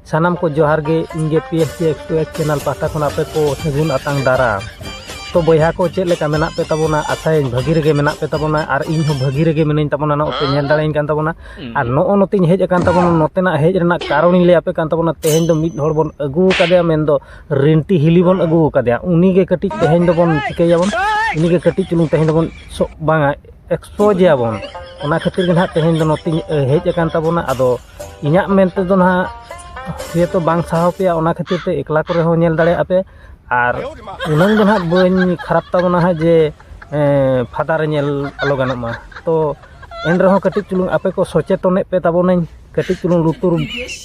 ᱥᱟᱱᱟᱢ ᱠᱚ ᱡᱚᱦᱟᱨ ᱜᱮ ᱤᱧ ᱜᱮ P S C X two X channel ᱯᱟᱦᱴᱟ ᱠᱷᱚᱱ ᱟᱯᱮ ᱠᱚ ᱥᱟᱹᱜᱩᱱ ᱟᱛᱟᱝ ᱫᱟᱨᱟᱢ ᱛᱚ ᱵᱚᱭᱦᱟ ᱠᱚ ᱪᱮᱫ ᱞᱮᱠᱟ ᱢᱮᱱᱟᱜ ᱯᱮ ᱛᱟᱵᱚᱱᱟ ᱟᱥᱟᱭᱟᱹᱧ ᱵᱷᱟᱹᱜᱤ ᱨᱮᱜᱮ ᱢᱮᱱᱟᱜ ᱯᱮ ᱛᱟᱵᱚᱱᱟ ᱟᱨ ᱤᱧ ᱦᱚᱸ ᱵᱷᱟᱹᱜᱤ ᱨᱮᱜᱮ ᱢᱤᱱᱟᱹᱧ ᱛᱟᱵᱚᱱᱟ ᱱᱚᱜᱼᱚᱭ ᱯᱮ ᱧᱮᱞ ᱫᱟᱲᱮᱭᱟᱹᱧ ᱠᱟᱱ ᱛᱟᱵᱚᱱᱟ ᱟᱨ ᱱᱚᱜᱼᱚ ᱱᱚᱛᱮᱧ ᱦᱮᱡ ᱟᱠᱟᱱ ᱛᱟᱵᱚᱱᱟ ᱱᱚᱛᱮᱱᱟᱜ ᱦᱮᱡ ᱨᱮᱱᱟᱜ ᱠᱟᱨᱚᱱᱤᱧ ᱞᱟᱹᱭ ᱟᱯᱮ ᱠᱟᱱ ᱛᱟᱵᱚᱱᱟ ᱛᱮᱦᱮᱧ ᱫᱚ ᱢᱤᱫ ᱦᱚᱲ ᱵᱚᱱ ᱟᱹᱜᱩ ᱟᱠᱟᱫᱮᱭᱟ ᱢᱮᱱᱫᱚ ᱨᱤᱱᱴᱤ ᱦᱤᱞᱤ ᱵᱚᱱ ᱟᱹᱜᱩ ᱟᱠᱟᱫᱮᱭᱟ ᱩᱱᱤ ᱜᱮ ᱠᱟᱹᱴᱤᱡ ᱛᱮᱦᱮᱧ ᱫᱚᱵᱚᱱ ᱪᱤᱠᱟᱹᱭᱟᱵᱚᱱ ᱩᱱᱤ ᱜᱮ ᱠᱟᱹᱴᱤᱡ ᱪᱩᱞᱩᱝ ᱛᱮᱦᱮᱧ ᱫᱚᱵᱚᱱ ᱵᱟᱝᱟ ᱮᱠᱥᱯᱳᱡᱮᱭᱟᱵᱚᱱ ᱚᱱᱟ ᱠᱷᱟᱹᱛᱤᱨ ᱜᱮ ᱱᱟᱦᱟᱜ ᱛᱮᱦᱮᱧ ᱫᱚ ᱱᱚᱛᱮᱧ ᱦᱮᱡ ᱟᱠᱟᱱ ᱛᱟᱵᱚᱱᱟ ᱟᱫᱚ ᱤᱧᱟᱹᱜ ᱢᱮᱱ ᱛᱮᱫᱚ ᱱᱟᱦᱟᱜ ᱡᱮᱦᱮᱛᱩ ᱵᱟᱝ ᱥᱟᱦᱟᱣ ᱯᱮᱭᱟ ᱚᱱᱟ ᱠᱷᱟᱹᱛᱤᱨ ᱛᱮ ᱮᱠᱞᱟ ᱠᱚᱨᱮ ᱦᱚᱸ ᱧᱮᱞ ᱫᱟᱲᱮᱭᱟᱜᱼᱟ ᱯᱮ ᱟᱨ ᱩᱱᱟᱹᱝ ᱫᱚ ᱱᱟᱦᱟᱜ ᱵᱟᱹᱧ ᱠᱷᱟᱨᱟᱯ ᱛᱟᱵᱚᱱᱟ ᱦᱟᱸᱜ ᱡᱮ ᱯᱷᱟᱫᱟ ᱨᱮ ᱧᱮᱞ ᱟᱞᱚ ᱜᱟᱱᱚᱜ ᱢᱟ ᱛᱚ ᱮᱱ ᱨᱮᱦᱚᱸ ᱠᱟᱹᱴᱤᱡ ᱪᱩᱞᱩᱝ ᱟᱯᱮ ᱠᱚ ᱥᱚᱪᱮᱛᱚᱱᱮᱫ ᱯᱮ ᱛᱟᱵᱚᱱᱟᱹᱧ ᱠᱟᱹᱴᱤᱡ ᱪᱩᱞᱩᱝ ᱞᱩᱛᱩᱨ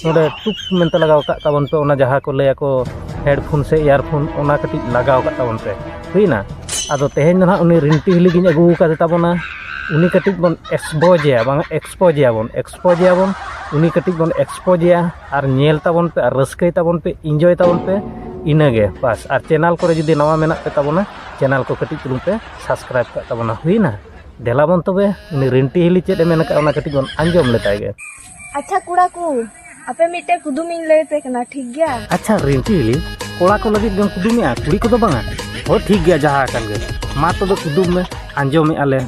ᱱᱚᱰᱮ ᱴᱩᱠ ᱢᱮᱱᱛᱮ ᱞᱟᱜᱟᱣ ᱠᱟᱜ ᱛᱟᱵᱚᱱ ᱯᱮ ᱚᱱᱟ ᱡᱟᱦᱟᱸ ᱠᱚ ᱞᱟᱹᱭᱟᱠᱚ ᱦᱮᱰᱯᱷᱳᱱ ᱥᱮ ᱤᱭᱟᱨᱯᱷᱳᱱ ᱚᱱᱟ ᱠᱟᱹᱴᱤᱡ ᱞᱟᱜᱟᱣ ᱠᱟᱜ ᱛᱟᱵᱚᱱ ᱯᱮ ᱦᱩᱭᱱᱟ ᱟᱫᱚ ᱛᱮᱦᱮᱧ ᱫᱚ ᱱᱟᱦᱟᱜ ᱩᱱᱤ ᱨᱤᱱᱴᱤ ᱦᱤᱞᱤ ᱜᱤᱧ ᱟᱹᱜᱩ ᱟᱠᱟᱫᱮ ᱛᱟᱵᱚᱱᱟ ᱩᱱᱤ ᱠᱟᱹᱴᱤᱡ ᱵᱚᱱ ᱮᱠᱥᱯᱳᱡᱮᱭᱟ ᱵᱟᱝ ᱮᱠᱥᱯᱳᱡᱮᱭᱟ ᱵᱚᱱ ᱮᱠᱥᱯᱳᱡᱮᱭᱟᱵᱚᱱ ᱩᱱᱤ ᱠᱟᱹᱴᱤᱡ ᱵᱚᱱ ᱮᱠᱥᱯᱳᱡᱮᱭᱟ ᱟᱨ ᱧᱮᱞ ᱛᱟᱵᱚᱱ ᱯᱮ ᱟᱨ ᱨᱟᱹᱥᱠᱟᱹᱭ ᱛᱟᱵᱚᱱ ᱯᱮ ᱤᱱᱡᱚᱭ ᱛᱟᱵᱚᱱ ᱯᱮ ᱤᱱᱟᱹᱜᱮ ᱵᱟᱥ ᱟᱨ ᱪᱮᱱᱮᱞ ᱠᱚᱨᱮ ᱡᱩᱫᱤ ᱱᱟᱣᱟ ᱢᱮᱱᱟᱜ ᱯᱮ ᱛᱟᱵᱚᱱᱟ ᱪᱮᱱᱮᱞ ᱠᱚ ᱠᱟᱹᱴᱤᱡ ᱪᱩᱞᱩᱝ ᱯᱮ ᱥᱟᱵᱥᱠᱨᱟᱭᱤᱵᱽ ᱠᱟᱜ ᱛᱟᱵᱚᱱᱟ ᱦᱩᱭᱱᱟ ᱫᱮᱞᱟᱵᱚᱱ ᱛᱚᱵᱮ ᱩᱱᱤ ᱨᱤᱱᱴᱤ ᱦᱤᱞᱤ ᱪᱮᱫ ᱮ ᱢᱮᱱ ᱟᱠᱟᱫ ᱚᱱᱟ ᱠᱟᱹᱴᱤᱡ ᱵᱚᱱ ᱟᱸᱡᱚᱢ ᱞᱮᱛᱟᱭ ᱜᱮ ᱟᱪᱪᱷᱟ ᱠᱚᱲᱟ ᱠᱚ ᱟᱯᱮ ᱢᱤᱫᱴᱮᱱ ᱠᱩᱫᱩᱢᱤᱧ ᱞᱟᱹᱭ ᱯᱮ ᱠᱟᱱᱟ ᱴᱷᱤᱠ ᱜᱮᱭᱟ ᱟᱪᱪᱷᱟ ᱨᱤᱱᱴᱤ ᱦᱤᱞᱤ ᱠᱚᱲᱟ ᱠᱚ ᱞᱟᱹᱜᱤᱫ ᱜᱮᱢ ᱠᱩᱫᱩᱢᱮᱜᱼᱟ ᱠᱩᱲᱤ ᱠᱚᱫᱚ ᱵᱟᱝᱟ ᱦᱳᱭ ᱴᱷᱤᱠ ᱜᱮᱭᱟ ᱡᱟᱦᱟᱸ ᱟᱠᱟᱱ ᱜᱮ ᱢᱟ ᱛᱚᱵᱮ ᱠᱩᱫᱩᱢ ᱢᱮ ᱟᱸᱡᱚᱢᱮᱜᱼᱟ ᱞᱮ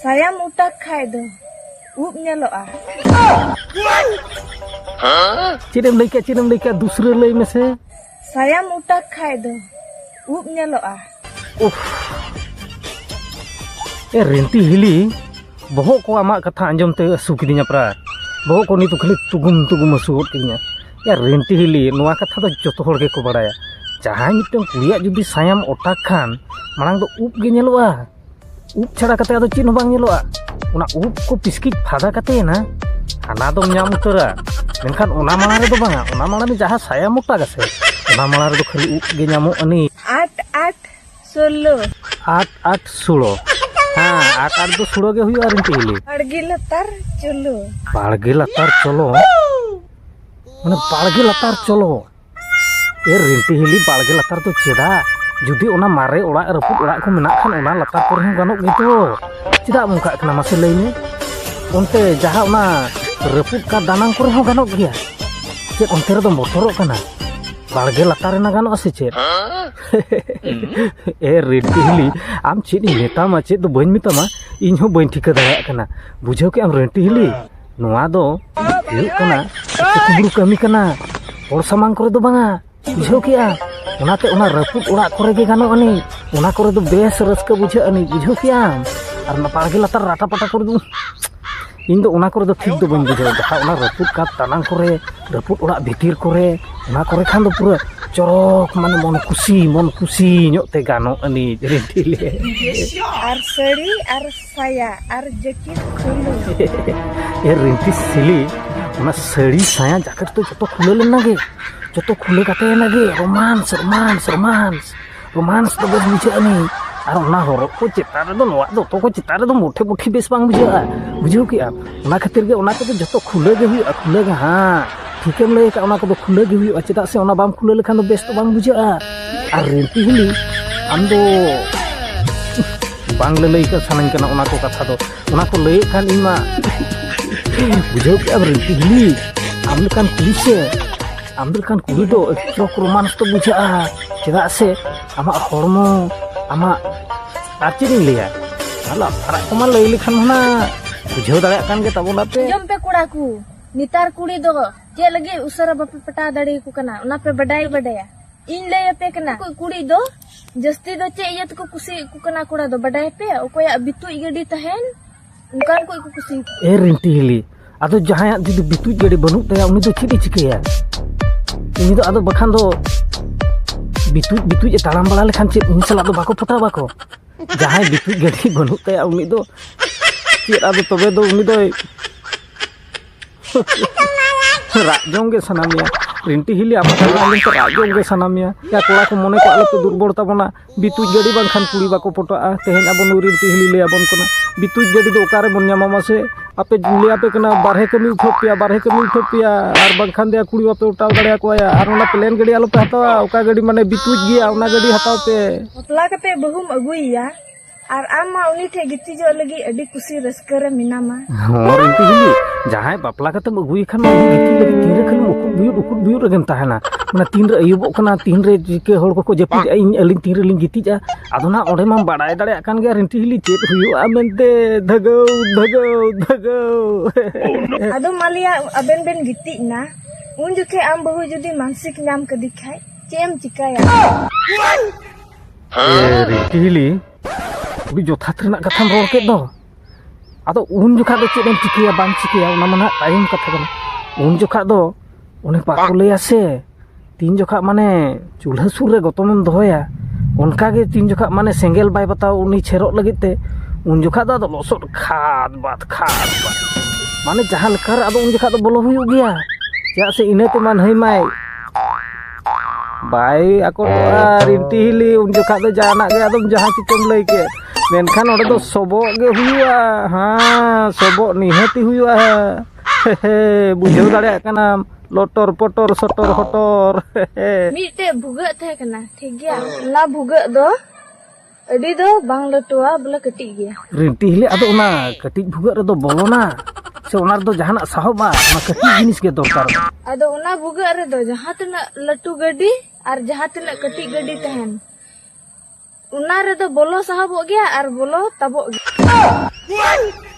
ᱥᱟᱭᱟᱢ ᱩᱴᱟᱠ ᱠᱷᱟᱭ ᱫᱚ ᱩᱵ ᱧᱮᱞᱚᱜᱼᱟ ᱪᱮᱫ ᱮᱢ ᱞᱟᱹᱭ ᱠᱮᱫ ᱪᱮᱫ ᱮᱢ ᱞᱟᱹᱭ ᱠᱮᱫ ᱫᱩᱥᱨᱟᱹ ᱞᱟᱹᱭ ᱢᱮᱥᱮ ᱥᱟᱭᱟᱢ ᱩᱴᱟᱠ ᱠᱷᱟᱭ ᱫᱚ ᱩᱵ ᱧᱮᱞᱚᱜᱼᱟ ᱩᱯᱷ ᱮ ᱨᱮᱱᱴᱤ ᱦᱤᱞᱤ ᱵᱚᱦᱚᱜ ᱠᱚ ᱟᱢᱟᱜ ᱠᱟᱛᱷᱟ ᱟᱸᱡᱚᱢ ᱛᱮ ᱟᱹᱥᱩ ᱠᱤᱫᱤᱧᱟ ᱯᱨᱟ ᱵᱚᱦᱚᱜ ᱠᱚ ᱱᱤᱛᱚᱜ ᱠᱷᱟᱹᱞᱤ ᱛᱩᱜᱩᱢ ᱛᱩᱜᱩᱢ ᱟᱹᱥᱩ ᱜᱚᱫ ᱠᱤᱫᱤᱧᱟ ᱮ ᱨᱮᱱᱴᱤ ᱦᱤᱞᱤ ᱱᱚᱣᱟ ᱠᱟᱛᱷᱟ ᱫᱚ ᱡᱚᱛᱚ ᱦᱚᱲ ᱜᱮᱠᱚ ᱵᱟᱲᱟᱭᱟ ᱡᱟᱦᱟᱸᱭ ᱢᱤᱫᱴᱟᱝ ᱠᱩᱲᱤᱭᱟᱜ ᱡᱩᱫᱤ ᱥᱟᱭᱟᱢ ᱚᱴᱟᱠ ᱠᱷᱟᱱ ᱢᱟᱲᱟᱝ ᱫᱚ ᱩᱵ ᱜᱮ ᱧᱮᱞᱚᱜᱼᱟ ᱩᱵ ᱪᱷᱟᱲᱟ ᱠᱟᱛᱮ ᱟᱫᱚ ᱪᱮᱫ ᱦᱚᱸ ᱵᱟᱝ ᱧᱮᱞᱚᱜᱼᱟ ᱚᱱᱟ ᱩᱵ ᱠᱚ ᱯᱤᱥᱠᱤᱡ ᱯᱷᱟᱫᱟ ᱠᱟᱛᱮᱭᱮᱱᱟ ᱦᱟᱱᱟ ᱫᱚᱢ ᱧᱟᱢ ᱩᱛᱟᱹᱨᱟ ᱢᱮᱱᱠᱷᱟᱱ ᱚᱱᱟ ᱢᱟᱲᱟᱝ ᱨᱮᱫᱚ ᱵᱟᱝᱟ ᱚᱱᱟ ᱢᱟᱲᱟᱝ ᱨᱮ ᱡᱟᱦᱟᱸ ᱥᱟᱭᱟ ᱢᱚᱴᱟ ᱜᱮᱥᱮ ᱚᱱᱟ ᱢᱟᱲᱟᱝ ᱨᱮᱫᱚ ᱠᱷᱟᱹᱞᱤ ᱩᱵ ᱜᱮ ᱧᱟᱢᱚᱜ ᱟᱹᱱᱤᱡ ᱟᱴ ᱟᱴ ᱥᱳᱞᱳ ᱟᱴ ᱟᱴ ᱥᱳᱞᱳ ᱦᱮᱸ ᱟᱴ ᱟᱴ ᱫᱚ ᱥᱳᱞᱳ ᱜᱮ ᱦᱩᱭᱩᱜᱼᱟ ᱨᱤᱱᱴᱤ ᱦᱤᱞᱤ ᱵᱟᱲᱜᱮ ᱞᱟᱛᱟᱨ ᱪᱚᱞᱚ ᱵᱟᱲᱜᱮ ᱞᱟᱛᱟᱨ ᱪᱚᱞᱚ ᱢᱟᱱᱮ ᱵᱟᱲᱜᱮ ᱞᱟᱛᱟᱨ ᱪᱚᱞᱚ ᱮ ᱨᱮᱱᱴᱤ ᱦᱤᱞᱤ ᱵᱟᱲᱜᱮ ᱞᱟᱛᱟᱨ ᱫᱚ ᱪᱮᱫᱟᱜ ᱡᱩᱫᱤ ᱚᱱᱟ ᱢᱟᱨᱮ ᱚᱲᱟᱜ ᱨᱟᱹᱯᱩᱫ ᱚᱲᱟᱜ ᱠᱚ ᱢᱮᱱᱟᱜ ᱠᱷᱟᱱ ᱚᱱᱟ ᱞᱟᱛᱟᱨ ᱠᱚᱨᱮ ᱦᱚᱸ ᱜᱟᱱᱚᱜ ᱜᱮᱛᱚ ᱪᱮᱫᱟᱜ ᱚᱱᱠᱟᱜ ᱠᱟᱱᱟ ᱢᱟᱥᱮ ᱞᱟᱹᱭ ᱢᱮ ᱚᱱᱛᱮ ᱡᱟᱦᱟᱸ ᱚᱱᱟ ᱨᱟᱹᱯᱩᱫ ᱠᱟᱱ ᱫᱟᱱᱟᱝ ᱠᱚᱨᱮ ᱦᱚᱸ ᱜᱟᱱᱚᱜ ᱜᱮᱭᱟ ᱪᱮᱫ ᱚᱱᱛᱮ ᱨᱮᱫᱚᱢ ᱵᱚᱛᱚᱨᱚᱜ ᱠᱟᱱᱟ ᱵᱟᱲᱜᱮ ᱞᱟᱛᱟᱨ ᱨᱮᱱᱟᱜ ᱜᱟᱱᱚᱜᱼᱟ ᱥᱮ ᱪᱮᱫ ᱮ ᱨᱮᱱᱴᱤ ᱦᱤᱞᱤ ᱟᱢ ᱪᱮᱫ ᱤᱧ ᱢᱮᱛᱟᱢᱟ ᱪᱮᱫ ᱫᱚ ᱵᱟᱹᱧ ᱢᱮᱛᱟᱢᱟ ᱤᱧ ᱦᱚᱸ ᱵᱟᱹᱧ ᱴᱷᱤᱠᱟᱹ ᱫᱟᱲᱮᱭᱟᱜ ᱠᱟᱱᱟ ᱵᱩᱡᱷᱟᱹᱣ ᱠᱮᱜ ᱟᱢ ᱨᱮᱱᱴᱤ ᱦᱤᱞᱤ ᱱᱚᱣᱟ ᱫᱚ ᱦᱩᱭᱩᱜ ᱠᱟᱱᱟ ᱠᱩᱵᱩᱨᱩ ᱠᱟᱹᱢᱤ ᱠᱟᱱᱟ ᱦᱚᱲ ᱥᱟᱢᱟᱝ ᱠᱚᱨᱮ ᱫᱚ ᱵᱟᱝᱟ ᱵᱩᱡᱷᱟᱹᱣ ᱠᱮᱜᱼᱟ ᱚᱱᱟᱛᱮ ᱚᱱᱟ ᱨᱟᱹᱯᱩᱫ ᱚᱲᱟᱜ ᱠᱚᱨᱮ ᱜᱮ ᱜᱟᱱᱚᱜ ᱟᱹᱱᱤᱡ ᱚᱱᱟ ᱠᱚᱨᱮ ᱫᱚ ᱵᱮᱥ ᱨᱟᱹᱥᱠᱟᱹ ᱵᱩᱡᱷᱟᱹᱜ ᱟᱹᱱᱤᱡ ᱵᱩᱡᱷᱟᱹᱣ ᱠᱮᱜᱼᱟᱢ ᱟᱨ ᱚᱱᱟ ᱵᱟᱲᱜᱮ ᱞᱟᱛᱟᱨ ᱨᱟᱴᱟ ᱯᱟᱴᱟ ᱠᱚᱨᱮ ᱫᱚ ᱤᱧ ᱫᱚ ᱚᱱᱟ ᱠᱚᱨᱮ ᱫᱚ ᱴᱷᱤᱠ ᱫᱚ ᱵᱟᱹᱧ ᱵᱩᱡᱷᱟᱹᱣᱟ ᱵᱟᱠᱷᱟᱡ ᱚᱱᱟ ᱨᱟᱹᱯᱩᱫ ᱠᱟᱸᱛ ᱫᱟᱱᱟᱝ ᱠᱚᱨᱮ ᱨᱟᱹᱯᱩᱫ ᱚᱲᱟᱜ ᱵᱷᱤᱛᱤᱨ ᱠᱚᱨᱮ ᱚᱱᱟ ᱠᱚᱨᱮ ᱠᱷᱟᱱ ᱫᱚ ᱯᱩᱨᱟᱹ ᱪᱚᱨᱚᱠ ᱢᱟᱱᱮ ᱢᱚᱱ ᱠᱩᱥᱤ ᱢᱚᱱ ᱠᱩᱥᱤ ᱧᱚᱜ ᱛᱮ ᱜᱟᱱᱚᱜ ᱟᱹᱱᱤᱡ ᱨᱤᱱᱴᱷᱤ ᱞᱮ ᱟᱨ ᱥᱟᱹᱲᱤ ᱟᱨ ᱥᱟᱭᱟ ᱟᱨ ᱡᱮᱠᱮᱴ ᱠᱷᱩᱞᱩ ᱮ ᱨᱤᱱᱛᱤ ᱥᱤᱞᱤ ᱚᱱᱟ ᱥᱟᱹᱲᱤ ᱥᱟᱭᱟ ᱡᱟᱠᱮᱴ ᱫᱚ ᱡᱚᱛᱚ ᱠᱷᱩᱞᱟᱹ ᱞᱮᱱᱟ ᱜᱮ ᱡᱚᱛᱚ ᱠᱷᱩᱞᱟᱹ ᱠᱟᱛᱮ ᱮᱱᱟ ᱜᱮ ᱨᱳᱢᱟᱱᱥ ᱨᱳᱢᱟᱱᱥ ᱨᱳᱢᱟᱱᱥ ᱨᱳᱢᱟᱱᱥ ᱫᱚ ᱵᱮᱥ ᱵᱩᱡᱷᱟᱹᱜ ᱟᱹᱱᱤᱡ ᱟᱨ ᱚᱱᱟ ᱦᱚᱨᱚᱜ ᱠᱚ ᱪᱮᱛᱟᱱ ᱨᱮᱫᱚ ᱱᱚᱣᱟ ᱫᱚᱛᱚ ᱠᱚ ᱪᱮᱛᱟᱱ ᱨᱮᱫᱚ ᱢᱩᱴᱷᱮ ᱢᱩᱴᱷᱮ ᱵᱮᱥ ᱵᱟᱝ ᱵᱩᱡᱷᱟᱹᱜᱼᱟ ᱵᱩᱡᱷᱟᱹᱣ ᱠᱮᱜᱼᱟ ᱚᱱᱟ ᱠᱷᱟᱹᱛᱤᱨ ᱜᱮ ᱚᱱᱟ ᱠᱚᱫᱚ ᱡᱚᱛᱚ ᱠᱷᱩᱞᱟᱹ ᱜᱮ ᱦᱩᱭᱩᱜᱼᱟ ᱠᱷᱩᱞᱟᱹ ᱜᱮ ᱦᱟᱸ ᱴᱷᱤᱠᱮᱢ ᱞᱟᱹᱭ ᱟᱠᱟᱫ ᱚᱱᱟ ᱠᱚᱫᱚ ᱠᱷᱩᱞᱟᱹ ᱜᱮ ᱦᱩᱭᱩᱜᱼᱟ ᱪᱮᱫᱟᱜ ᱥᱮ ᱚᱱᱟ ᱵᱟᱢ ᱠᱷᱩᱞᱟᱹ ᱞᱮᱠᱷᱟᱱ ᱫᱚ ᱵᱮᱥ ᱫᱚ ᱵᱟᱝ ᱵᱩᱡᱷᱟᱹᱜᱼᱟ ᱟᱨ ᱨᱤᱱᱛᱤ ᱦᱤᱞᱤ ᱟᱢ ᱫᱚ ᱵᱟᱝ ᱞᱟᱹᱞᱟᱹᱭ ᱠᱟᱜ ᱥᱟᱱᱟᱧ ᱠᱟᱱᱟ ᱚᱱᱟ ᱠᱚ ᱠᱟᱛᱷᱟ ᱫᱚ ᱚᱱᱟ ᱠᱚ ᱞᱟᱹᱭᱮᱫ ᱠᱷᱟᱱ ᱤᱧ ᱢᱟ ᱵᱩᱡᱷᱟᱹᱣ ᱠᱮᱫᱼᱟ ᱨᱤᱱᱛᱤ ᱦᱤᱞᱤ ᱟᱢ ᱞᱮᱠᱟᱱ ᱠᱩᱲᱤ ᱥᱮ ᱟᱢ ᱞᱮᱠᱟᱱ ᱠᱩᱲᱤ ᱫᱚ ᱮᱠᱴᱩ ᱨᱳᱢᱟᱱᱥ ᱫᱚ ᱵᱩᱡᱷᱟᱹᱜᱼᱟ ᱪᱮᱫᱟᱜ ᱥᱮ ᱟᱢᱟᱜ ᱦᱚᱲᱢᱚ ᱟᱢᱟᱜ ᱟᱨ ᱪᱮᱫ ᱤᱧ ᱞᱟᱹᱭᱟ ᱟᱞᱚ ᱟᱨᱟᱜ ᱠᱚᱢᱟ ᱞᱟᱹᱭ ᱞᱮᱠᱷᱟᱱ ᱢᱟ ᱵᱩᱡᱷᱟᱹᱣ ᱫᱟᱲᱮᱭᱟᱜ ᱠᱟᱱ ᱜᱮ ᱛᱟᱵᱚᱱᱟ ᱯᱮ ᱡᱚᱢ ᱯᱮ ᱠᱚᱲᱟ ᱠᱚ ᱱᱮᱛᱟᱨ ᱠᱩᱲᱤ ᱫᱚ ᱪᱮᱫ ᱞᱟᱹᱜᱤᱫ ᱩᱥᱟᱹᱨᱟ ᱵᱟᱯᱮ ᱯᱟᱴᱟᱣ ᱫᱟᱲᱮᱭᱟᱠᱚ ᱠᱟᱱᱟ ᱚᱱᱟ ᱯᱮ ᱵᱟᱰᱟᱭ ᱵᱟᱰᱟᱭᱟ ᱤᱧ ᱞᱟᱹᱭ ᱟᱯᱮ ᱠᱟᱱᱟ ᱠᱩᱲᱤ ᱫᱚ ᱡᱟᱹᱥᱛᱤ ᱫᱚ ᱪᱮᱫ ᱤᱭᱟᱹ ᱛᱮᱠᱚ ᱠᱩᱥᱤᱭᱟᱜ ᱠᱚ ᱠᱟᱱᱟ ᱠᱚᱲᱟ ᱫᱚ ᱵᱟᱰᱟᱭ ᱯᱮ ᱚᱠᱚᱭᱟᱜ ᱵᱤᱛᱩᱡ ᱜᱟᱹᱰᱤ ᱛᱟᱦᱮᱱ ᱚᱱᱠᱟᱱ ᱠᱚ ᱠᱚ ᱠᱩᱥᱤ ᱮ ᱨᱤᱱᱴᱤ ᱦᱤᱞᱤ ᱟᱫᱚ ᱡᱟᱦᱟᱸᱭᱟᱜ ᱡᱩᱫᱤ ᱵᱤᱛᱩᱡ ᱜᱟᱹᱰᱤ ᱵᱟᱹᱱᱩᱜ ᱛᱟᱭᱟ ᱩᱱᱤ ᱫᱚ ᱪᱮᱫ ᱮ ᱪᱤᱠᱟᱹᱭᱟ ᱩᱱᱤ ᱫᱚ ᱟᱫᱚ ᱵᱟᱠᱷᱟᱱ ᱫᱚ ᱵᱤᱛᱩᱡ ᱵᱤᱛᱩᱡ ᱮ ᱛᱟᱲᱟᱢ ᱵᱟᱲᱟ ᱞᱮᱠᱷᱟᱱ ᱪᱮᱫ ᱩᱱᱤ ᱥᱟᱞᱟᱜ ᱫᱚ ᱵᱟᱠᱚ ᱯᱚᱴᱟᱣ ᱵᱟᱠᱚ ᱡᱟᱦᱟᱸᱭ ᱵᱤᱛᱩᱡ ᱜᱟᱹᱰᱤ ᱵᱟᱹᱱᱩᱜ ᱛᱟᱭᱟ ᱩᱱᱤ ᱫᱚ ᱪᱮᱫ ᱟᱫᱚ ᱛᱚᱵᱮ ᱫᱚ ᱩᱱᱤ ᱫᱚᱭ ᱨᱟᱜ ᱡᱚᱝ ᱜᱮ ᱥᱟᱱᱟ ᱢᱮᱭᱟ ᱨᱤᱱᱴᱤ ᱦᱤᱞᱤ ᱟᱢᱟᱜ ᱠᱟᱛᱷᱟ ᱟᱸᱡᱚᱢ ᱛᱮ ᱨᱟᱜ ᱡᱚᱝ ᱜᱮ ᱥᱟᱱᱟ ᱢᱮᱭᱟ ᱭᱟ ᱠᱚᱲᱟ ᱠᱚ ᱢᱚᱱᱮ ᱠᱚ ᱟᱞᱚᱯᱮ ᱫᱩᱨᱵᱚᱞ ᱛᱟᱵᱚᱱᱟ ᱵᱤᱛᱩᱡ ᱜᱟᱹᱰᱤ ᱵᱟᱝᱠᱷᱟᱱ ᱠᱩᱲᱤ ᱵᱟᱠᱚ ᱯᱚᱴᱟᱜᱼᱟ ᱛᱮᱦᱮᱧ ᱟᱵᱚ ᱱᱩᱭ ᱨᱤᱱᱴᱤ ᱦᱤᱞᱤ ᱞᱟᱹᱭ ᱟᱵᱚᱱ ᱠᱟᱱᱟ ᱵᱤᱛᱩᱡ ᱜᱟᱹᱰᱤ ᱫᱚ ᱚᱠᱟ ᱨᱮᱵᱚᱱ ᱧᱟᱢᱟ ᱢᱟᱥᱮ ᱟᱯᱮ ᱞᱟᱹᱭ ᱟᱯᱮ ᱠᱟᱱᱟ ᱵᱟᱨᱦᱮ ᱠᱟᱹᱢᱤ ᱩᱴᱷᱟᱹᱣ ᱯᱮᱭᱟ ᱵᱟᱨᱦᱮ ᱠᱟᱹᱢᱤ ᱩᱴᱷᱟᱹᱣ ᱯᱮᱭᱟ ᱟᱨ ᱵᱟᱝᱠᱷᱟᱱ ᱫᱚᱭᱟ ᱠᱩᱲᱤ ᱵᱟᱯᱮ ᱚᱴᱟᱣ ᱫᱟᱲᱮᱭᱟᱠᱚᱣᱟ ᱭᱟ ᱟᱨ ᱚᱱᱟ ᱯᱞᱮᱱ ᱜᱟᱹᱰᱤ ᱟᱞᱚᱯᱮ ᱦᱟᱛᱟᱣᱟ ᱚᱠᱟ ᱜᱟᱹᱰᱤ ᱢᱟᱱᱮ ᱵᱤᱛᱩᱡ ᱜᱮᱭᱟ ᱚᱱᱟ ᱜᱟᱹᱰᱤ ᱦᱟᱛᱟᱣ ᱯᱮ ᱵᱟᱯᱞᱟ ᱠᱟᱛᱮ ᱵᱟᱹᱦᱩᱢ ᱟᱹᱜᱩᱭᱮᱭᱟ ᱟᱨ ᱟᱢ ᱢᱟ ᱩᱱᱤ ᱴᱷᱮᱱ ᱜᱤᱛᱤᱡᱚᱜ ᱞᱟᱹᱜᱤᱫ ᱟᱹᱰᱤ ᱠᱩᱥᱤ ᱨᱟᱹᱥᱠᱟᱹ ᱨᱮ ᱢᱮᱱᱟᱢᱟ ᱦᱚᱸ ᱨᱤᱝᱠᱤ ᱦᱤᱞᱤ ᱡᱟᱦᱟᱸᱭ ᱵᱟᱯᱞᱟ ᱠᱟᱛᱮᱢ ᱟᱹᱜᱩᱭᱮ ᱠᱷᱟᱱ ᱢᱟ ᱩᱱᱤ ᱜᱤᱛᱤᱡ ᱞᱟᱹᱜᱤᱫ ᱛᱤᱱᱨᱮ ᱠᱷᱟᱹᱞᱤ ᱩᱠᱩᱫ ᱵᱩᱭᱩᱫ ᱩᱠᱩᱫ ᱵᱩᱭᱩᱫ ᱨᱮᱜᱮᱢ ᱛᱟᱦᱮᱱᱟ ᱢᱟᱱᱮ ᱛᱤᱱᱨᱮ ᱟᱹᱭᱩᱵᱚᱜ ᱠᱟᱱᱟ ᱛᱤᱱᱨᱮ ᱪᱤᱠᱟᱹ ᱦᱚᱲ ᱠᱚᱠᱚ ᱡᱟᱹᱯᱤᱫᱼᱟ ᱤᱧ ᱟᱹᱞᱤᱧ ᱛᱤᱱ ᱨᱮᱞᱤᱧ ᱜᱤᱛᱤᱡᱼᱟ ᱟᱫᱚ ᱱᱟᱜ ᱚᱸᱰᱮ ᱢᱟᱢ ᱵᱟᱲᱟᱭ ᱫᱟᱲᱮᱭᱟᱜ ᱠᱟᱱ ᱜᱮᱭᱟ ᱨᱤᱝᱠᱤ ᱦᱤᱞᱤ ᱪᱮᱫ ᱦᱩᱭᱩᱜᱼᱟ ᱢᱮᱱᱛᱮ ᱫᱷᱟᱹᱜᱟᱹᱣ ᱫᱷᱟᱹᱜᱟᱹᱣ ᱫᱷᱟᱹᱜᱟᱹᱣ ᱟᱫᱚ ᱢᱟᱞᱮᱭᱟ ᱟᱵᱮᱱ ᱵᱮᱱ ᱜᱤᱛᱤᱡ ᱮᱱᱟ ᱩᱱ ᱡᱚᱠᱷᱮᱡ ᱟᱢ ᱵᱟᱹᱦᱩ ᱡᱩᱫᱤ ᱢᱟᱱᱥᱤᱠ ᱧᱟᱢ ᱠᱟᱫᱮ ᱠᱷᱟᱡ ᱪᱮᱫ ᱮᱢ ᱪᱤᱠᱟᱹᱭᱟ ᱦᱤᱞᱤ ᱟᱹᱰᱤ ᱡᱚᱛᱷᱟᱛ ᱨᱮᱱᱟᱜ ᱠᱟᱛᱷᱟᱢ ᱨᱚᱲ ᱠᱮᱫ ᱫᱚ ᱟᱫᱚ ᱩᱱ ᱡᱚᱠᱷᱟ ᱫᱚ ᱪᱮᱫ ᱮᱢ ᱪᱤᱠᱟᱹᱭᱟ ᱵᱟᱢ ᱪᱤᱠᱟᱹᱭᱟ ᱚᱱᱟ ᱢᱟ ᱱᱟᱦᱟᱜ ᱛᱟᱭᱚᱢ ᱠᱟᱛᱷᱟ ᱠᱟᱱᱟ ᱩᱱ ᱡᱚᱠᱷᱟ ᱫᱚ ᱚᱱᱮ ᱵᱟᱠᱚ ᱞᱟᱹᱭᱟ ᱥᱮ ᱛᱤᱱ ᱡᱚᱠᱷᱟ ᱢᱟᱱᱮ ᱪᱩᱞᱦᱟᱹ ᱥᱩᱨ ᱨᱮ ᱜᱚᱛᱚᱢᱮᱢ ᱫᱚᱦᱚᱭᱟ ᱚᱱᱠᱟᱜᱮ ᱛᱤᱱ ᱡᱚᱠᱷᱟ ᱢᱟᱱᱮ ᱥᱮᱸᱜᱮᱞ ᱵᱟᱭ ᱵᱟᱛᱟᱣ ᱩᱱᱤ ᱪᱷᱮᱨᱚᱜ ᱞᱟᱹᱜᱤᱫ ᱛᱮ ᱩᱱ ᱡᱚᱠᱷᱟ ᱫᱚ ᱟᱫᱚ ᱞᱚᱥᱚᱫ ᱠᱷᱟᱫ ᱵᱟᱫ ᱠᱷᱟᱫ ᱵᱟᱫ ᱢᱟᱱᱮ ᱡᱟᱦᱟᱸ ᱞᱮᱠᱟᱨᱮ ᱟᱫᱚ ᱩᱱ ᱡᱚᱠᱷᱟ ᱫᱚ ᱵᱚᱞᱚ ᱦᱩᱭᱩᱜ ᱜᱮᱭᱟ ᱪᱮᱫᱟᱜ ᱥᱮ ᱤᱱᱟᱹ ᱛᱮᱢᱟ ᱱᱟᱹᱭ ᱢᱟᱭ ᱵᱟᱭ ᱟᱠᱚᱴᱚᱜᱼᱟ ᱨᱤᱱᱴᱤ ᱦᱤᱞᱤ ᱩᱱ ᱡᱚᱠᱷᱟᱡ ᱫᱚ ᱡᱟᱦᱟᱱᱟᱜ ᱜᱮ ᱟᱫᱚᱢ ᱡᱟᱦᱟᱸ ᱪᱤᱠᱟᱹᱢ ᱞᱟᱹᱭ ᱠᱮᱫ ᱢᱮᱱᱠᱷᱟᱱ ᱱᱚᱰᱮ ᱫᱚ ᱥᱚᱵᱚᱜ ᱜᱮ ᱦᱩᱭᱩᱜᱼᱟ ᱦᱮᱸ ᱥᱚᱵᱚᱜ ᱱᱤᱦᱟᱹᱛᱤ ᱦᱩᱭᱩᱜᱼᱟ ᱵᱩᱡᱷᱟᱹᱣ ᱫᱟᱲᱮᱭᱟᱜ ᱠᱟᱱᱟᱢ ᱞᱚᱴᱚᱨ ᱯᱚᱴᱚᱨ ᱥᱚᱴᱚᱨ ᱦᱚᱴᱚᱨ ᱢᱤᱫᱴᱮᱡ ᱵᱷᱩᱜᱟᱹᱜ ᱛᱟᱦᱮᱸ ᱠᱟᱱᱟ ᱴᱷᱤᱠ ᱜᱮᱭᱟ ᱚᱱᱟ ᱵᱷᱩᱜᱟᱹᱜ ᱫᱚ ᱟᱹᱰᱤ ᱫᱚ ᱵᱟᱝ ᱞᱟᱹᱴᱩᱣᱟ ᱵᱚᱞᱮ ᱠᱟᱹᱴᱤᱡ ᱜᱮᱭᱟ ᱨᱮᱱᱴᱤ ᱦᱤᱞᱮ ᱟᱫᱚ ᱚᱱᱟ ᱠᱟᱹᱴᱤᱡ ᱵᱷᱩᱜᱟᱹᱜ ᱨᱮᱫᱚ ᱵᱚᱞᱚᱱᱟ ᱥᱮ ᱚᱱᱟ ᱨᱮᱫᱚ ᱡᱟᱦᱟᱱᱟᱜ ᱥᱟᱦᱚᱵᱟ ᱚᱱᱟ ᱠᱟᱹᱴᱤᱡ ᱡᱤᱱᱤᱥ ᱜᱮ ᱫᱚᱨᱠᱟᱨ ᱟᱫᱚ ᱚᱱᱟ ᱵᱷᱩᱜᱟᱹᱜ ᱨᱮᱫᱚ ᱡᱟᱦᱟᱸ ᱛᱤᱱᱟᱹᱜ ᱞᱟᱹᱴᱩ ᱜᱟᱹᱰᱤ ᱟᱨ ᱡᱟᱦᱟᱸ ᱛᱤᱱᱟᱹᱜ ᱠᱟᱹᱴᱤᱡ ᱜᱟᱹᱰᱤ ᱛᱟᱦᱮᱱ ᱚᱱᱟ ᱨᱮᱫᱚ ᱵᱚᱞᱚ ᱥᱟᱦᱚᱵᱚᱜ ᱜᱮᱭᱟ ᱟᱨ ᱵᱚᱞᱚ ᱛᱟᱵᱚᱜ ᱜᱮᱭᱟ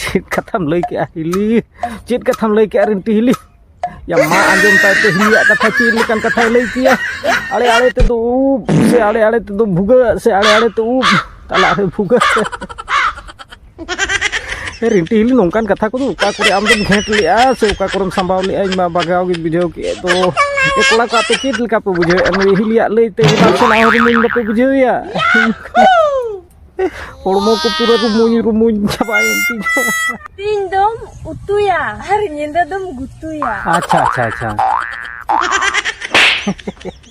ᱪᱮᱫ ᱠᱟᱛᱷᱟᱢ ᱞᱟᱹᱭ ᱠᱮᱜᱼᱟ ᱦᱤᱞᱤ ᱪᱮᱫ ᱠᱟᱛᱷᱟᱢ ᱞᱟᱹᱭ ᱠᱮᱜᱼᱟ ᱨᱤᱱᱴᱤ ᱦᱤᱞᱤ ᱭᱟ ᱢᱟ ᱟᱸᱡᱚᱢ ᱛᱟᱭ ᱛᱮ ᱦᱤᱞᱤᱭᱟᱜ ᱠᱟᱛᱷᱟ ᱪᱮᱫ ᱞᱮᱠᱟᱱ ᱠᱟᱛᱷᱟᱭ ᱞᱟᱹᱭ ᱠᱮᱭᱟ ᱟᱲᱮ ᱟᱲᱮ ᱛᱮᱫᱚ ᱩᱵ ᱥᱮ ᱟᱲᱮ ᱟᱲᱮ ᱛᱮᱫᱚ ᱵᱷᱩᱜᱟᱹᱜ ᱥᱮ ᱟᱲᱮ ᱟᱲᱮ ᱛᱮ ᱩᱵ ᱛᱟᱞᱟ ᱨᱮ ᱵᱷᱩᱜᱟᱹᱜ ᱨᱤᱱᱴᱤ ᱦᱤᱞᱤ ᱱᱚᱝᱠᱟᱱ ᱠᱟᱛᱷᱟ ᱠᱚᱫᱚ ᱚᱠᱟ ᱠᱚᱨᱮ ᱟᱢ ᱫᱚᱢ ᱜᱷᱮᱸᱴ ᱞᱮᱜᱼᱟ ᱥᱮ ᱚᱠᱟ ᱠᱚᱨᱮᱢ ᱥᱟᱢᱵᱟᱣ ᱞᱮᱜᱼᱟ ᱤᱧ ᱢᱟ ᱵᱟᱜᱟᱣ ᱜᱤᱧ ᱵᱩᱡᱷᱟᱹᱣ ᱠᱮᱫ ᱫᱚ ᱮ ᱠᱚᱲᱟ ᱠᱚ ᱟᱯᱮ ᱪᱮᱫ ᱞᱮᱠᱟ ᱯᱮ ᱵᱩᱡᱷᱟᱹᱣᱮᱫᱼᱟ ᱱᱩᱭ ᱦᱤᱞᱤᱭᱟᱜ ᱞᱟᱹᱭᱛᱮ ᱦᱮᱢᱟᱞ ᱥᱮᱱᱟᱜ ᱦᱚᱸ ᱨᱩᱢᱩᱧ ᱵᱟᱯᱮ ᱵᱩᱡᱷᱟᱹᱣᱮᱭᱟ ᱦᱚᱲᱢᱚ ᱠᱚ ᱯᱩᱨᱟᱹ ᱨᱩᱢᱩᱧ ᱨᱩᱢᱩᱧ ᱪᱟᱵᱟᱭᱮᱱ ᱛᱤᱧᱟ ᱛᱤᱧ ᱫᱚᱢ ᱩᱛᱩᱭᱟ ᱟᱨ ᱧᱤᱫᱟᱹ ᱫᱚᱢ ᱜᱩᱛᱩᱭᱟ ᱟᱪᱪᱷᱟ ᱟᱪᱪᱷᱟ ᱟᱪᱪᱷᱟ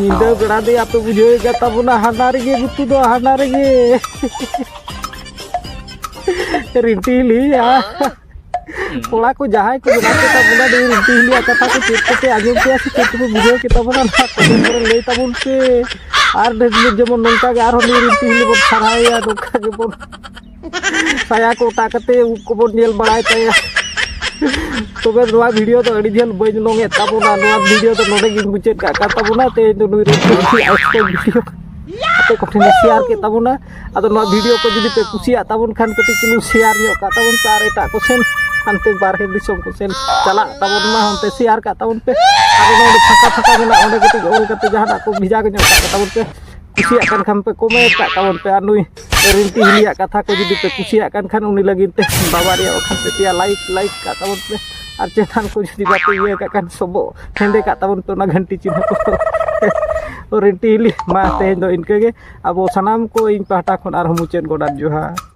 ᱧᱤᱫᱟᱹ ᱵᱮᱲᱟ ᱫᱚ ᱟᱯᱮ ᱵᱩᱡᱷᱟᱹᱣ ᱠᱟᱫ ᱛᱟᱵᱚᱱᱟ ᱦᱟᱱᱟ ᱨᱮᱜᱮ ᱜᱩᱛᱩ ᱫᱚ ᱦᱟᱱᱟ ᱨᱮᱜᱮ ᱨᱤᱱᱴᱤ ᱦᱤᱞᱤᱭᱟ ᱠᱚᱲᱟ ᱠᱚ ᱡᱟᱦᱟᱸᱭ ᱠᱚ ᱵᱮᱱᱟᱣ ᱠᱮᱫ ᱛᱟᱵᱚᱱᱟ ᱫᱚ ᱨᱤᱱᱴᱤ ᱦᱤᱞᱤᱭᱟ ᱠᱟᱛᱷᱟ ᱠᱚ ᱪᱮᱫ ᱠᱚᱯᱮ ᱟᱸᱡᱚᱢ ᱠᱮᱭᱟ ᱥᱮ ᱪᱮᱫ ᱠᱚᱯᱮ ᱵᱩᱡᱷᱟᱹᱣ ᱠᱮᱫ ᱛᱟᱵᱚᱱᱟ ᱱᱚᱣᱟ ᱠᱚᱢᱮᱱ ᱠᱚᱨᱮ ᱞᱟᱹᱭ ᱛᱟᱵᱚᱱ ᱯᱮ ᱟᱨ ᱰᱷᱮᱨ ᱡᱮᱢᱚᱱ ᱱᱚᱝᱠᱟ ᱜᱮ ᱟᱨᱦᱚᱸ ᱱᱩᱭ ᱨᱤᱱᱴᱤ ᱦᱤᱞᱤ ᱵᱚᱱ ᱥᱟᱨᱦᱟᱣᱮᱭᱟ ᱱᱚᱝᱠᱟ ᱜᱮᱵᱚᱱ ᱥᱟᱭᱟ ᱠᱚ ᱚᱴᱟᱜ ᱠᱟᱛᱮ ᱩᱵ ᱠᱚᱵᱚᱱ ᱧᱮᱞ ᱵᱟᱲᱟᱭ ᱛᱟᱭᱟ ᱛᱚᱵᱮ ᱱᱚᱣᱟ ᱵᱷᱤᱰᱤᱭᱳ ᱫᱚ ᱟᱹᱰᱤ ᱡᱷᱟᱹᱞ ᱵᱟᱹᱧ ᱞᱚᱝᱮᱫ ᱛᱟᱵᱚᱱᱟ ᱱᱚᱣᱟ ᱵᱷᱤᱰᱤᱭᱳ ᱫᱚ ᱱᱚᱰᱮ ᱜᱤᱧ ᱢᱩᱪᱟᱹᱫ ᱠᱟᱜ ᱠᱟᱱ ᱛᱟᱵᱚᱱᱟ ᱛᱮᱦᱮᱧ ᱫᱚ ᱱᱩᱭ ᱵᱷᱤᱰᱤᱭᱳ ᱟᱯᱮ ᱠᱚᱴᱷᱮᱱ ᱥᱮᱭᱟᱨ ᱠᱮᱫ ᱛᱟᱵᱚᱱᱟ ᱟᱫᱚ ᱱᱚᱣᱟ ᱵᱷᱤᱰᱤᱭᱳ ᱠᱚ ᱡᱩᱫᱤ ᱯᱮ ᱠᱩᱥᱤᱭᱟᱜ ᱛᱟᱵᱚᱱ ᱠᱷᱟᱱ ᱠᱟᱹᱴᱤᱡ ᱪᱩᱞᱩᱝ ᱥᱮᱭᱟᱨ ᱧᱚᱜ ᱠᱟᱜ ᱛᱟᱵᱚᱱ ᱯᱮ ᱟᱨ ᱮᱴᱟᱜ ᱠᱚ ᱥᱮᱱ ᱦᱟᱱᱛᱮ ᱵᱟᱨᱦᱮ ᱫᱤᱥᱚᱢ ᱠᱚ ᱥᱮᱱ ᱪᱟᱞᱟᱜ ᱛᱟᱵᱚᱱ ᱢᱟ ᱚᱱᱛᱮ ᱥᱮᱭᱟᱨ ᱠᱟᱜ ᱛᱟᱵᱚᱱ ᱯᱮ ᱟᱫᱚ ᱱᱚᱰᱮ ᱯᱷᱟᱸᱠᱟ ᱯᱷᱟᱸᱠᱟ ᱢᱮᱱᱟᱜᱼᱟ ᱚᱸᱰᱮ ᱠᱟᱹᱴᱤᱡ ᱚᱞ ᱠᱟᱛᱮ ᱡᱟᱦᱟᱱᱟᱜ ᱠᱚ ᱵᱷᱮᱡᱟ ᱧᱚᱜ ᱠᱟᱜ ᱛᱟᱵᱚᱱ ᱯᱮ ᱠᱩᱥᱤᱭᱟᱜ ᱠᱟᱱ ᱠᱷᱟᱱ ᱯᱮ ᱠᱚᱢᱮᱱᱴ ᱠᱟᱜ ᱛᱟᱵᱚᱱ ᱯᱮ ᱟᱨ ᱱᱩᱭ ᱨᱤᱱᱛᱤ ᱦᱤᱞᱤᱭᱟᱜ ᱠᱟᱛᱷᱟ ᱠᱚ ᱡᱩᱫᱤ ᱯᱮ ᱠᱩᱥᱤᱭᱟᱜ ᱠᱟᱱ ᱠᱷᱟᱱ ᱩᱱᱤ ᱞᱟᱹᱜᱤᱫ ᱛᱮ ᱵᱟᱵᱟ ᱨᱮᱭᱟᱜ ᱚᱠᱷᱟᱱ ᱯᱮ ᱯᱮᱭᱟ ᱞᱟᱭᱤᱠ ᱞᱟᱭᱤᱠ ᱠᱟᱜ ᱛᱟᱵᱚᱱ ᱯᱮ ᱟᱨ ᱪᱮᱛᱟᱱ ᱠᱚ ᱡᱩᱫᱤ ᱵᱟᱯᱮ ᱤᱭᱟᱹ ᱠᱟᱜ ᱠᱷᱟᱱ ᱥᱚᱵᱚᱜ ᱦᱮᱸᱫᱮ ᱠᱟᱜ ᱛᱟᱵᱚᱱ ᱯᱮ ᱚᱱᱟ ᱜᱷᱟᱱᱴᱤ ᱪᱤᱱᱦᱟᱹ ᱠᱚ ᱨᱤᱱᱴᱤ ᱦᱤᱞᱤ ᱢᱟ ᱛᱮᱦᱮᱧ ᱫᱚ ᱤᱱᱠᱟᱹ ᱜᱮ ᱟᱵᱚ ᱥᱟᱱᱟᱢ ᱠᱚ ᱤᱧ ᱯᱟᱦᱴᱟ ᱠᱷᱚᱱ ᱟᱨᱦᱚᱸ ᱢᱩᱪᱟᱹᱫ ᱜᱚᱰᱟ ᱡᱚᱦᱟᱨ